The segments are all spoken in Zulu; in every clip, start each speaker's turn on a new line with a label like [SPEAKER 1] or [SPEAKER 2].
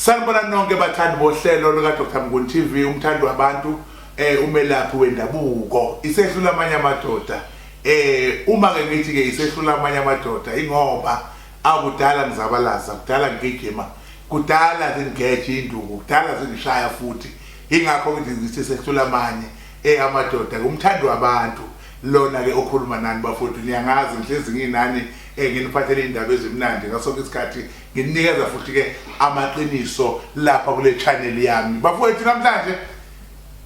[SPEAKER 1] Sanibona nonke bathandi bohlelo luka Dr Mnguni TV umthandi wabantu eh umelaphi wendabuko isehlula amanye amadoda eh uma ke ngithi ke isehlula amanye amadoda ingoba akudala ngizabalaza kudala ngigijima kudala zingeje induku kudala zingishaya futhi ingakho ngithi isehlula amanye Hey amadoda ke umthandi wabantu lona ke okhuluma nani bafowethu niyangazi ngihlezi nginani eh nginiphathele indaba ezimnandi ngaso ke isikhathi nginikeza futhi ke amaqiniso lapha kule channel yami bafowethu namhlanje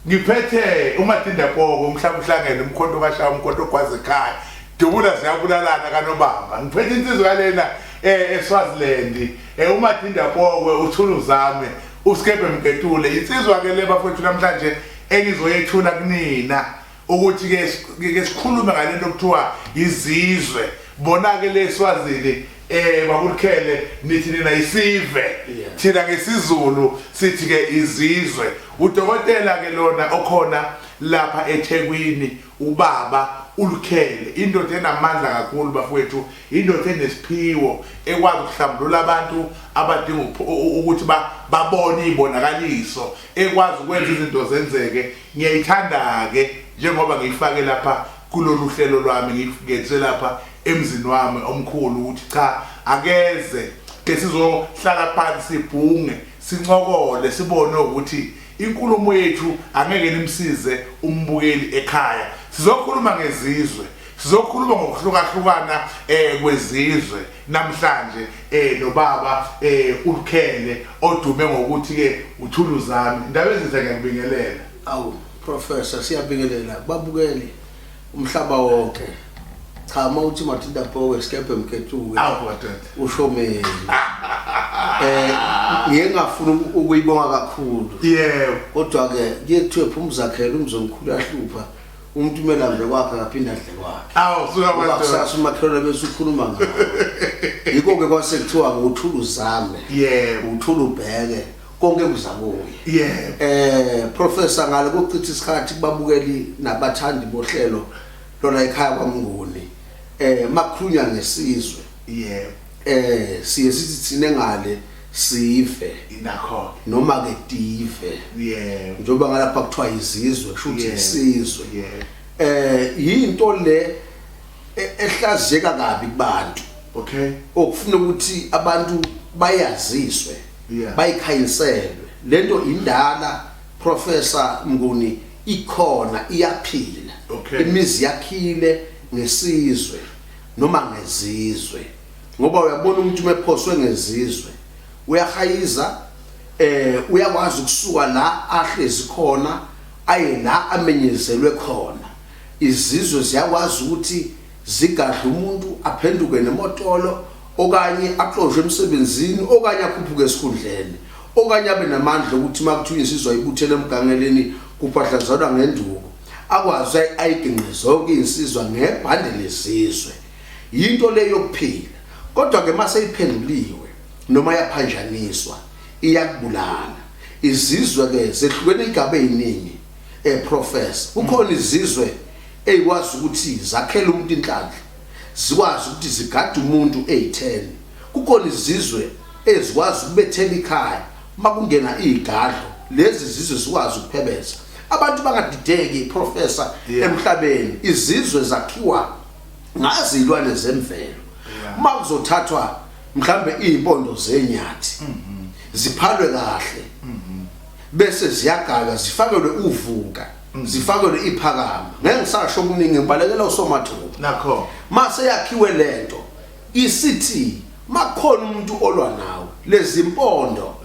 [SPEAKER 1] ngiphethe umatinda koko umhlaba uhlangene umkhonto kashaya umkhonto ogwaza ekhaya dubula ziyabulalana kanobamba ngiphethe insizwa yalena eh eSwaziland eh umatinda koko uthuluzame uskebe mketule insizwa ke le bafowethu namhlanje engizoyethula kunina ukuthi ke ke sikhulume ngalento okuthiwa izizwe bona ke leswazini eh bakulikhele nithi nina isive thina ngesizulu sithi ke izizwe udokotela ke lona okhona lapha eThekwini ubaba ulukhele indoda enamandla kakhulu bafowethu indoda enesiphiwo ekwazi ukuhlambulula abantu abadinga ukuthi babone izibonakaliso ekwazi ukwenza izinto zenzeke ngiyayithanda-ke njengoba ngiyifake lapha kulolu hlelo lwami ngiyifukethe lapha emzini wami omkhulu ukuthi cha akeze ke sizohlala phansi sibhunge sincokole sibone ukuthi inkulumo yethu angeke nimsize umbukeli ekhaya sizokhuluma ngezizwe sizokhuluma ngokuhlukahlukana um kwezizwe Namhlanje eh lo baba eh uLukhele odume ngokuthi ke uThuluzami indaba ezinhle ngiyakubingelela. Awu
[SPEAKER 2] professor siyabingelela babukeli umhlaba wonke. Cha uma uthi Matilda Powe skephe mkethuke. Awu kodwa. Usho mina. Eh ngiye ngafuna ukuyibonga kakhulu. Yebo. Kodwa
[SPEAKER 1] ke
[SPEAKER 2] kuyethiwe phuma uzakhela umzomkhulu yahlupha. umuntu kumele adle kwakhe akaphinde adle kwakhe awu suka kusasa
[SPEAKER 1] umakhelwane
[SPEAKER 2] bese ukhuluma ngawo yikho ke kwase kuthiwa ngothula uzame yebo uthula
[SPEAKER 1] ubheke
[SPEAKER 2] konke kuzakuye yebo eh
[SPEAKER 1] professor ngale
[SPEAKER 2] kochitha isikhathi kubabukeli nabathandi bohlelo lona ekhaya kwamnguni eh makhulunya ngesizwe yebo
[SPEAKER 1] eh siye
[SPEAKER 2] sithi thina ngale sive indakho
[SPEAKER 1] noma ke
[SPEAKER 2] tive yeah njengoba
[SPEAKER 1] ngalapha kuthiwa
[SPEAKER 2] izizwe kusho ukuthi isizwe yeah eh
[SPEAKER 1] yinto le
[SPEAKER 2] e-, ehlazeka kabi kubantu okay
[SPEAKER 1] okufuna ukuthi
[SPEAKER 2] abantu bayaziswe yeah bayikhayiselwe lento indala professor Mnguni ikhona iyaphila okay imizi yakhile ngesizwe noma ngezizwe ngoba uyabona umuntu uma ephoswe ngezizwe uyahayiza eh uyakwazi ukusuka la ahlezi khona aye la amenyezelwe khona izizwe ziyakwazi ukuthi zigadla umuntu aphenduke nemotolo okanye axoshwe emsebenzini okanye akhuphuke esikhundleni okanye abe namandla okuthi makuthiwa insizwa ibuthele emgangeleni kuphahlazalwa ngenduku akwazi ayiginqe zonke insizwa ngebhande lesizwe Yinto le yokuphila, kodwa-ke uma seyiphenduliwe noma yaphanjaniswa, iyakubulala. Izizwe-ke zehlukene iy'gaba ey'ningi, um Professor. Kukhona izizwe ey'kwazi ukuthi zakhele umuntu inhlanhla, zikwazi ukuthi zigade umuntu ey'theni. Kukhona izizwe ezikwazi ukubethela ikhaya uma kungena iy'gadlo, lezi zizwe zikwazi ukuphebeza. Abantu bangadideki, Professor, emhlabeni. Izizwe zakhiwa. ngazi izilwane zemvelo uma kuzothathwa mhlambe izimpondo zenyathi mhm. ziphalwe kahle mhm. bese ziyagalwa zifakelwe uvuka mhm. zifakelwe iphakama ngeke ngisasho okuningi ngibalekela usomathuba nakho mase
[SPEAKER 1] yakhiwe
[SPEAKER 2] lento isithi makukhona umuntu olwa nawe lezimpondo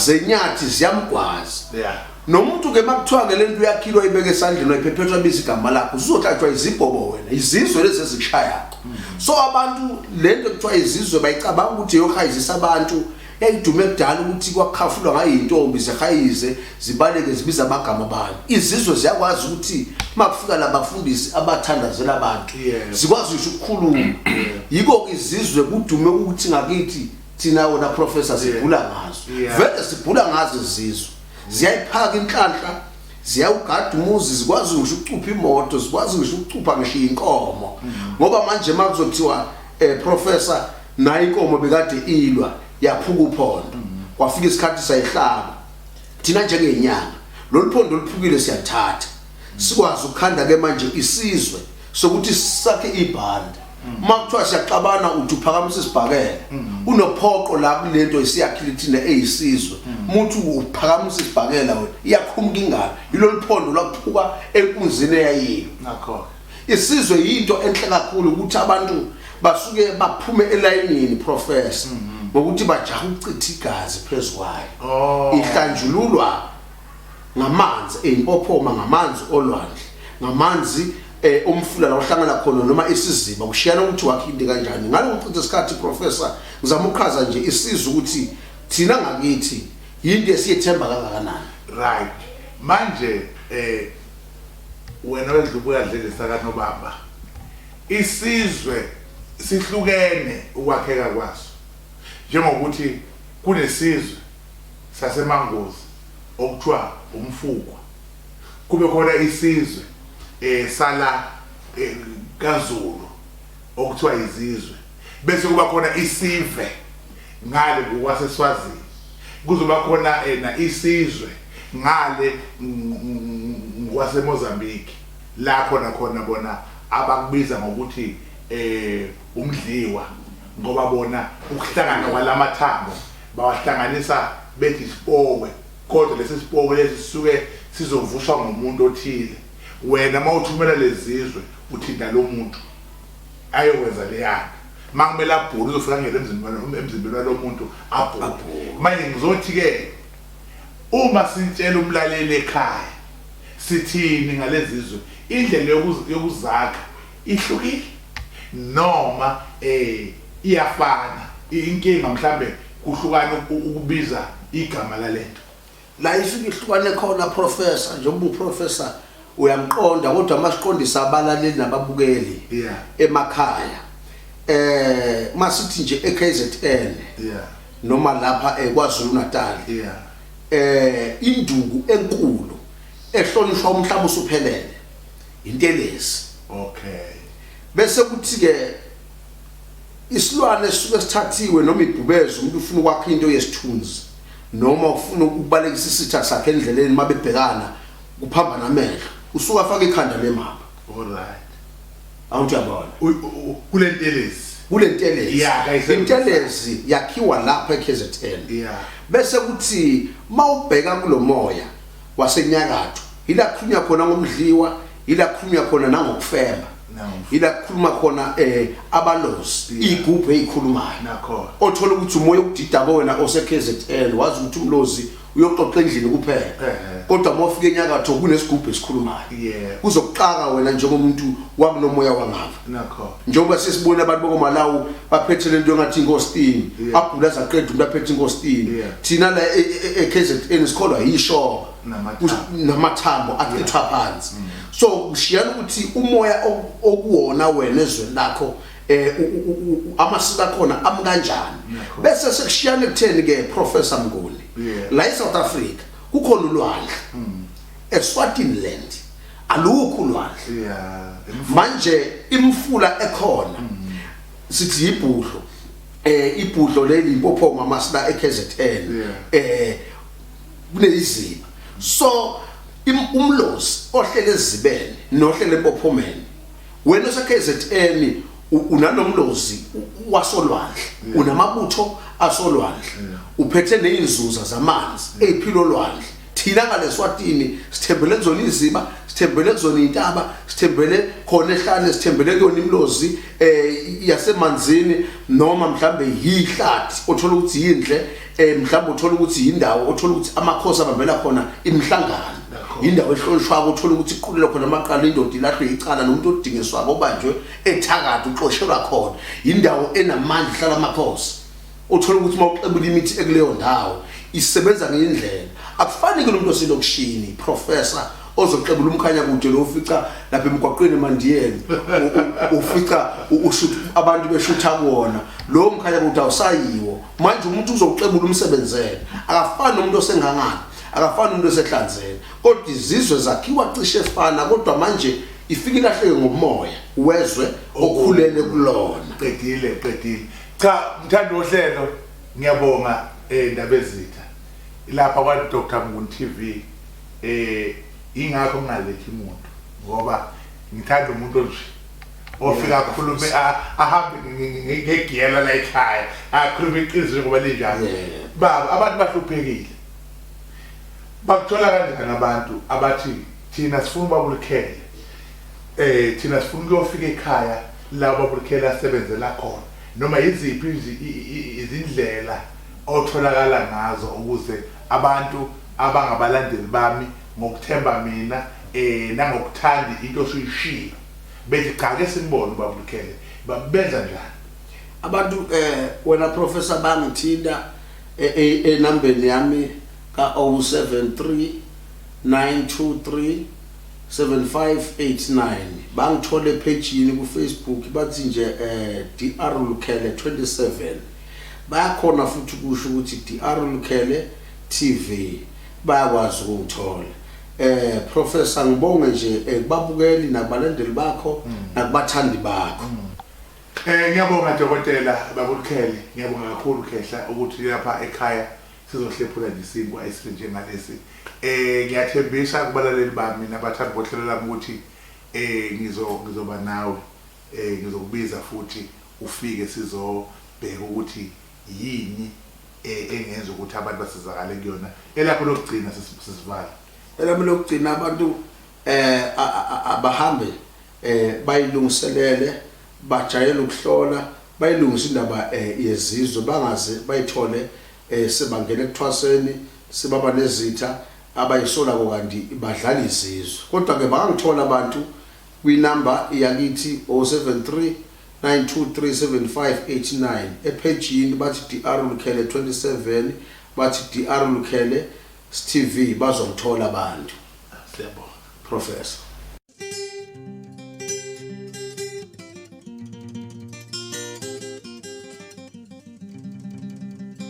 [SPEAKER 2] zenyathi ziyamgwaza yeah. nomuntu ke makuthiwa ke lento uyakhilwa ayibeke esandleni wayiphephethwa biza igama lakho uzothathwa izibhobo wena izizwe lezi ezikushaya hmm. so abantu lento kuthiwa izizwe bayicabanga ukuthi yohayizisa abantu yayidume kudala ukuthi kwakhafulwa ngayintombi zehayize zibaleke zibiza amagama abantu izizwe ziyakwazi ukuthi makufika labafundisi abathandazela abantu zikwazi ngisho ukukhuluma yiko izizwe kudume ukuthi ngakithi thina wona professor sibhula ngazo vele sibhula ngazo izizwe ziyayiphaka inhlanhla ziyawugada umuzi zikwazi ngisho ukucupha imoto zikwazi ngisho ukucupha ngisho inkomo mm. ngoba manje makuzothiwa eh professor nayi inkomo bekade ilwa yaphuka uphondo mm. kwafika isikhathi sayihlaba thina njengenyanga lolu phondo oluphukile siyathatha sikwazi ukukhanda ke manje isizwe sokuthi sakhe ibhanda uma kuthiwa siyaxabana uthi uphakamisa isibhakela unophoqo la kulento isiyakhile thina eyisizwe umuntu uphakamisa isibhakela wena iyakhumuka ingalo yilolu phondo lwakuphuka enkunzini eyayiyo nakho
[SPEAKER 1] isizwe yinto
[SPEAKER 2] enhle kakhulu ukuthi abantu basuke baphume elayinini professor mhm. ngokuthi bajaha ukuchitha igazi phezukwayo oh. ihlanjululwa ngamanzi eyimpophoma ngamanzi olwandle ngamanzi eh umfula la uhlangana khona noma isiziba kushiyana ukuthi wakhindi kanjani ngalo uchitha isikhathi professor ngizama ukuchaza nje isiza ukuthi thina ngakithi yinto esiyethemba kangakanani right
[SPEAKER 1] manje eh Wena wedla ubuya dlelisa kanobamba. Isizwe sihlukene ukwakheka kwaso. Njengokuthi kunesizwe saseMangozi okuthiwa umfukwa. Kube khona isizwe eh sala eh kaZulu okuthiwa izizwe. bese kuba khona isive ngale ngokwaseSwazini kuzoba khona ena isizwe ngale ngwaseMozambique la khona khona bona abakubiza ngokuthi eh umdliwa ngoba bona ukuhlangana kwalamathambo bawahlanganisa bethi isipowe kodwa lesi sipowe lesi sisuke sizovuswa ngomuntu othile wena mawuthumela lezizwe uthinta lo muntu ayokwenza leyana makumele abhule uzofika ngele emzimbeni emzimbeni walomuntu abhule manje ngizothi ke uma sintshela umlaleli ekhaya sithini ngalezizwe indlela yokuzakha ihlukile noma eh iyafana inkinga mhlambe kuhlukana ukubiza igama lalento la ifike
[SPEAKER 2] ihlukane khona professor njengoba uprofessor uyamqonda kodwa masiqondisa abalaleli nababukeli yeah. emakhaya eh masithi nje eKZN yeah. noma lapha eKwaZulu eh, Natal yeah. eh induku enkulu ehlonishwa umhlaba usuphelele intelezi okay
[SPEAKER 1] bese
[SPEAKER 2] kuthi ke Isilwane esisuke sithathiwe noma ibhubezi umuntu ufuna ukwakha into yesithunzi noma ufuna ukubalekisa isitha sakhe endleleni uma bebhekana kuphambana amehlo usuke afaka ikhanda lemama alright
[SPEAKER 1] awuthi yabona
[SPEAKER 2] kule ntelezi
[SPEAKER 1] kule ntelezi yeah, intelezi
[SPEAKER 2] yakhiwa lapha eKZN yeah. bese kuthi mawubheka kulomoya wasenyakatho ila khulunywa khona ngomdliwa yila kukhulunywa khona nangokufema yila kukhuluma khona eh abalozi igubhu ezikhulumayo nakho othola
[SPEAKER 1] ukuthi umoya
[SPEAKER 2] ukudida kowena oseKZN wazi ukuthi umlozi uyoxoxa endlini kuphela kodwa uma ufika enyakatho kunesigubhu esikhulumayo kuzokuxaka wena njengomuntu wakulomoya wangapha njengoba
[SPEAKER 1] sesibona
[SPEAKER 2] abantu bokomalawu baphethe lento engathi inkostini abhula zaqeda umuntu aphethe inkostini thina la e-kzn e-, e-, sikholwa yishoba namathambo achithwa phansi mm. so kushiyana ukuthi umoya okuwona wena ezweni lakho eh amasiko akhona amkanjani bese sekushiyana ekutheni ke professor Mnguni la eSouth Africa kukhona ulwandle mm. eSwatini land alukho ulwandle manje imfula ekhona mm. sithi ibhudlo eh ibhudlo leli impophoma amasida eKZN eh kuneyiziba so umlozi ohlele ezibene nohlele empophomeni wena oseKZN unanomlozi wasolwandle mm. unamabutho asolwandle mm. uphethe nezinzuza zamanzi mm. eziphilo lwandle thina ngaleswatini sithembele kuzona iziba sithembele kuzona intaba sithembele khona ehlane sithembele kuyona imlozi eh yasemanzini noma mhlambe yihlathi othola ukuthi yindle eh mhlawumbe uthola ukuthi yindawo othola ukuthi amakhosi abambela khona imihlangano yindawo ehlonishwako uthola ukuthi iqulelwa khona amaqala indoda ilahlwe icala nomuntu odingiswako obanjwe ethakade uxoshelwa khona yindawo enamandla ihlala amakhosi uthola ukuthi uma uxebula imithi ekuleyo ndawo isebenza ngendlela akufani ke lo muntu oselokishini professor ozoxebula umkhanya kude lo ufica lapha emgwaqweni emandiyeni ufica ushutha abantu beshutha kuwona lo mkhanya kude awusayiwo manje umuntu uzoxebula umsebenzele akafani nomuntu osengangani akafani umuntu esehlanzeni kodwa izizwe zakhiwa cishe efana kodwa manje ifike ilahleke ngomoya wezwe okhulele
[SPEAKER 1] kulona
[SPEAKER 2] qedile
[SPEAKER 1] qedile cha mthanda ohlelo ngiyabonga eh ndabezitha lapha kwa Dr Mnguni TV Eh ingakho ngingalethi muntu ngoba ngithanda umuntu onje ofika akhulume ahambe ngegiyela la ekhaya akhulume iqiniso njengoba linjalo baba abantu bahluphekile bakuthola kanjani abantu abathi thina sifuna ubabulukhele eh thina sifuna ukuyofika ekhaya la ubabulukhele asebenzela khona noma yiziphi izindlela otholakala ngazo ukuze abantu abangabalandeli bami ngokuthemba mina eh nangokuthanda into osuyishilo bethi cha ke simbone ubaba Lukhele babenza njani abantu
[SPEAKER 2] eh wena professor bangithinta eh, eh, enambeni yami ka 073 923 7589 bangithole ephejini kufacebook bathi nje eh dr lukhele 27 bayakhona futhi kusho ukuthi dr lukhele TV bayakwazi ukuwuthola. Eh Professor ngibonge nje eh, kubabukeli nakubalandeli bakho mm. nakubathandi bakho. Mm. Eh
[SPEAKER 1] ngiyabonga dokotela babukhele ngiyabonga kakhulu khehla ukuthi lapha ekhaya sizohlephula nje isinkwa esihle njengalesi. Eh ngiyathembisa kubalaleli bami nabathandi bohlelo lami ukuthi eh ngizo ngizoba nawe eh ngizokubiza futhi ufike sizobheka ukuthi Yini e, engenza ukuthi abantu basizakale kuyona? Elakho lokugcina sis- sisivala. elami lokugcina
[SPEAKER 2] abantu eh a- a- a- abahambe eh bayilungiselele bajayele ukuhlola bayilungise indaba eh, yezizwe bangaze bayithole eh sebangena ekuthwaseni sebaba nezitha abayisola kokanti badlala izizwe kodwa ke bangangithola abantu kwinamba yakithi 073 9237589 ephejini bathi DR Lukhele 27 bathi DR Lukhele stv bazomthola abantu siyabonga professor